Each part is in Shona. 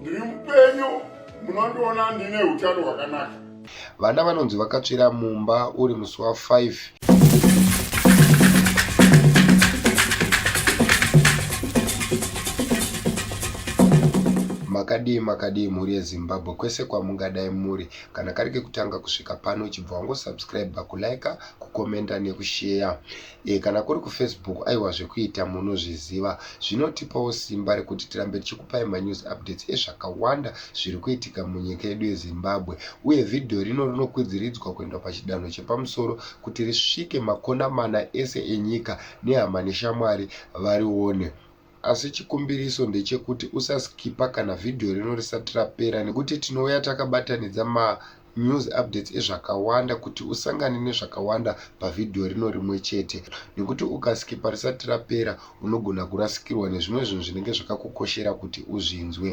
ndiri mupenyu munondiona ndine utano hwakanaka vana vanonzi vakatsvira mumba uri musi wa 5 makadii makadii mhuri yezimbabwe kwese kwamungadai muri kana kari kekutanga kusvika pano chibva wangosubscribe kulike kukomenta nekusheya E, kana kuri kufacebook aiwa zvekuita munozviziva zvinotipawo simba rekuti tirambe tichikupai manews updates ezvakawanda zviri kuitika munyika yedu yezimbabwe uye vhidhiyo rino rinokwidziridzwa kuenda pachidanho chepamusoro kuti risvike makona mana ese enyika nehama neshamwari varione Asi chikumbiriso ndechekuti usaskipa kana vhidhiyo rino risati rapera nekuti tinouya takabatanidza manews updates ezvakawanda kuti usangane nezvakawanda pavhidhiyo rino rimwe chete nekuti ukaskipa risati rapera unogona kurasikirwa nezvimwe zvinhu zvinenge zvakakukoshera kuti uzvinzwe.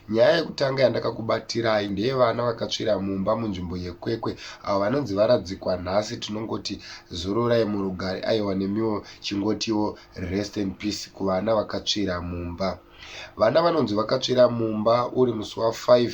Nyaya yekutanga yandakakubatirai ndeyevana vakatsvira mumba munzvimbo yekwekwe avo vanonzi varadzikwa nhasi tinongoti zororai murugare aiwa nemiwo chingotiwo Rest in peace kuvana vakatsvira mumba. Vana vanonzi vakatsvira mumba uri musi wa 5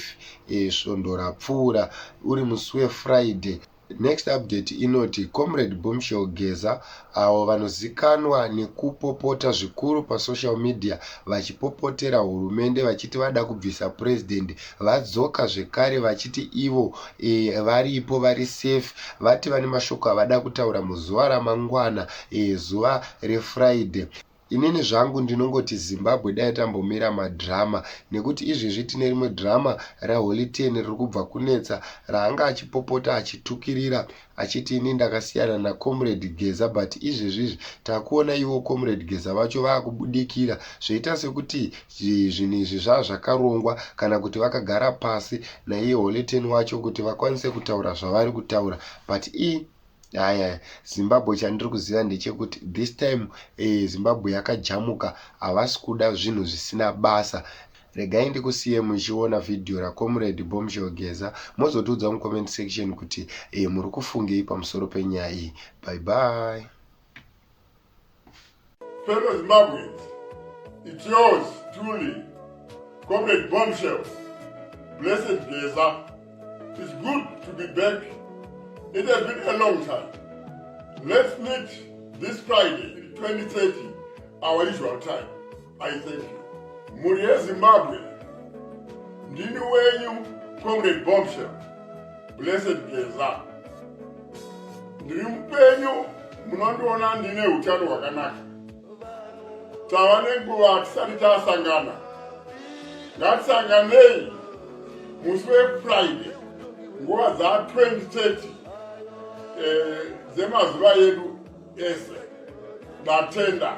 eh, svondo e, rapfuura uri musi weFriday. Next update inoti Comrade Boomshell Geza avo vanozikanwa nekupopota zvikuru pasocial media vachipopotera hurumende vachiti vada kubvisa President vadzoka zvekare vachiti ivo e, varipo vari safe vati vane mashoko avada kutaura muzuva ramangwana e, zuva refriday inini zvangu ndinongoti zimbabwe dai tambomira madrama nekuti izvezvi tine rimwe drama raholiten riri kubva kunetsa raanga achipopota achitukirira achiti ini ndakasiyana nacomrade geza but izvezvizvi takuona ivo comrade geza vacho vaakubudikira zvoita sekuti zvinhu izvi zvava zvakarongwa kana kuti vakagara pasi naiye holeten wacho kuti vakwanise kutaura zvavari kutaura but i haya zimbabwe chandiri kuziva ndechekuti this time e, zimbabwe yakajamuka havasi kuda zvinhu zvisina basa Regai ndikusiye muchiona video raComrade Bombshell Geza mozotiudza mucomment section kuti eh, muri kufungei pamusoro penyaya iyi. Bye bye. Fellow Zimbabweans, it's yours truly, Comrade Bombshell, Blessed Geza. It's good to be back. It has been a long time. Let's meet this Friday, 2030, our usual time. I thank you. Mhuri yeZimbabwe, ndini wenyu Comrade Bombshell, Blessed Geza. Ndiri mupenyu, munondiona ndine utano hwakanaka. Tava nenguva tisati tasangana. Ngatisanganei musi weFriday nguva dza 2030 eh, dzemazuva yedu ese. Ndatenda.